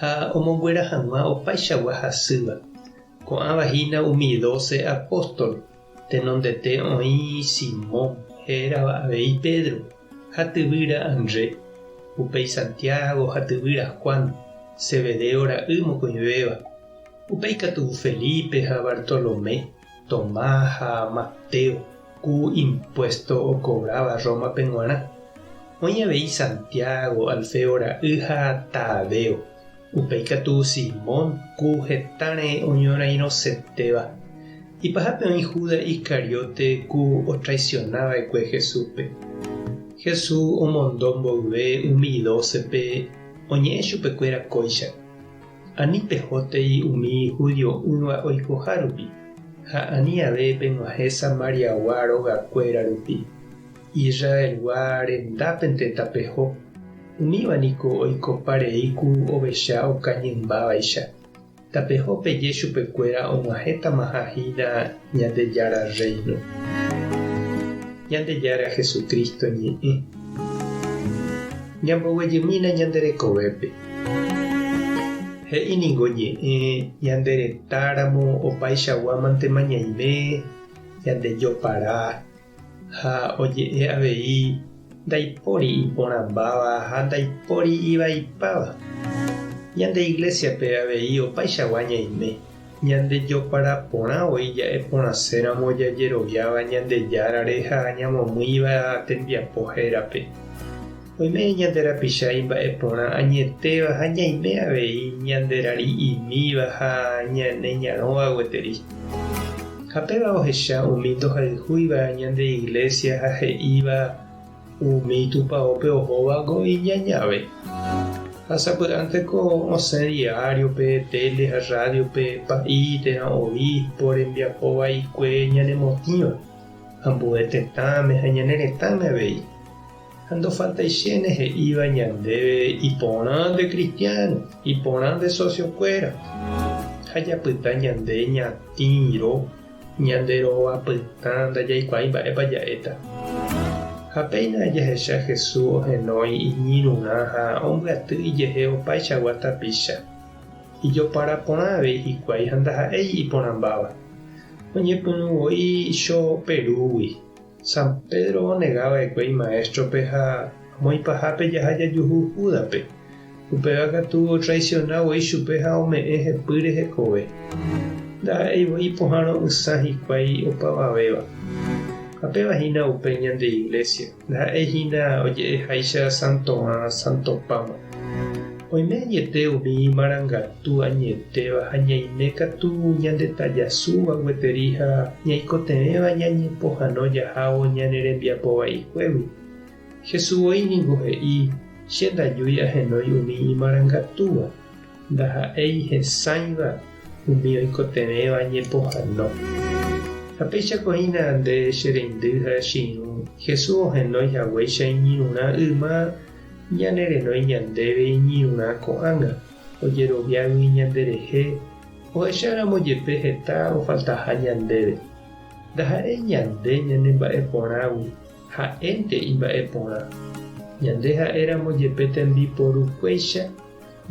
ha omonguera hag̃ua opaichagua hasýva, ko'ãva hína umi doce apóstol, tenondete oĩ Simón, he'érava avei Pedro, ha tyvýra Andre, upéi Santiago ha tyvýra Juan, Zebedeo ra'y mokõivéva, upéi katu Felipe ha Bartolomé, Tomás ha Mateo, ku impuésto okovráva Rómape g̃uarã. Oĩ avei Santiago, Alfeo ra'y ha Tadeo, upéi katu Simón, ku heta reẽ oñorairõsetéva. Ipahápe oĩ Judas Iscariote, ku otraisiona va'ekue Jesúspe. Jesús omondo mboyve umi dócepe oñe'ẽ chupekuéra kóicha. Ani pehótei umi judio'ỹva oikoha rupi, ha ani ave peg̃uahẽ Samariagua rogakuéra rupi. Israelgua rendápente tapeho, umíva niko oikopa rei ku ovecha okañymbávaicha. Tapeho peje chupekuéra og̃uahẽtamaha hína Ñandejára Rréino. Ñandejára Jesucristo ñe'ẽ. Ñamboguejymína ñande rekovépe. He'i ningo ñe'ẽ ñande retáramo opaichaguámantema ñaime ñandejopará. Ha oje'e avei, Ndaipóri iporãmbáva ha ndaipóri ivaipáva. Ñande Iglésiape avei opaichagua ñaime, ñandejopara porã voi ja'e porãséramo jajeroviáva Ñandejárare ha ñamomýiva tembiapo hérape. Oime ñande rapicha imba'eporã añetéva ha ñaime avei ñande rari'imíva ha ñane ñarõva gueteri. Ha péva ohecha umi ndohayhúiva ñande iglésia ha he'íva umi tupaópe ohóva ko iñañave. Ha sapy'ánteko osẽ diáriope, téle ha rrádiope pa'i térã obíspo rembiapo vaikue ñanemotĩva ambue tetãme ha ñane retãme avei. Ha ndofaltaichéne he'íva ñandéve iporã nde kristiáno, iporã nde sosiokuéra, ha japyta ñande ñatĩro, ñande rova pytã ndajaikuaái mba'épa ja'éta. Ha péina jahecha Jesús ohenói iñirũrã ha ombyaty ijehe opaichagua tapicha, ijopara porã avei hikuái ha ndaha'éi iporãmbáva, oñepyrũ voi cho perúgui. San Pedro onega va'ekue imaéstrope ha moĩpahápe jaha jajuhu Júdape. Upéva katu otraisiona voi chupe ha ome'ẽ hepýre hekove. Ndaha'éi voi ipohãrõ ysã hikuái opavavéva. Ha péva hína upe ñande iglésia, ndaha'éi hína oje'eháicha san Tomás, san Topáma. Oime añete umi imarangatu añetéva ha ñaime katu ñandetajasúva gueteri ha ñaikotevẽva ñañepohãno jahávo ñane rembiapo vaikuégui. Jesús voi ningo he'i, Che ndajúi ahenói umi imarangatúva, ndaha'éi hesãiva umi oikotevẽva ñepohãno. Ha péichako hína nde che reindy ha che irũ, Jesús ohenói haguéicha iñirũrã yma ñanerenói ñandéve iñirũrã ko'ág̃a, ojeroviágui ñanderehe ohecháramo jepe heta ofaltaha ñandéve. Ndaha'éi ñande ñanemba'eporãgui, ha'énte imba'eporã. Ñande ha'éramo jepe tembiporukuéicha,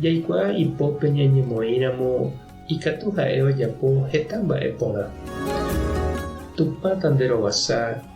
jaikuaa ipópe ñañemoĩramo ikatu ha'e ojapo heta mba'e porã. Tupã tanderovasa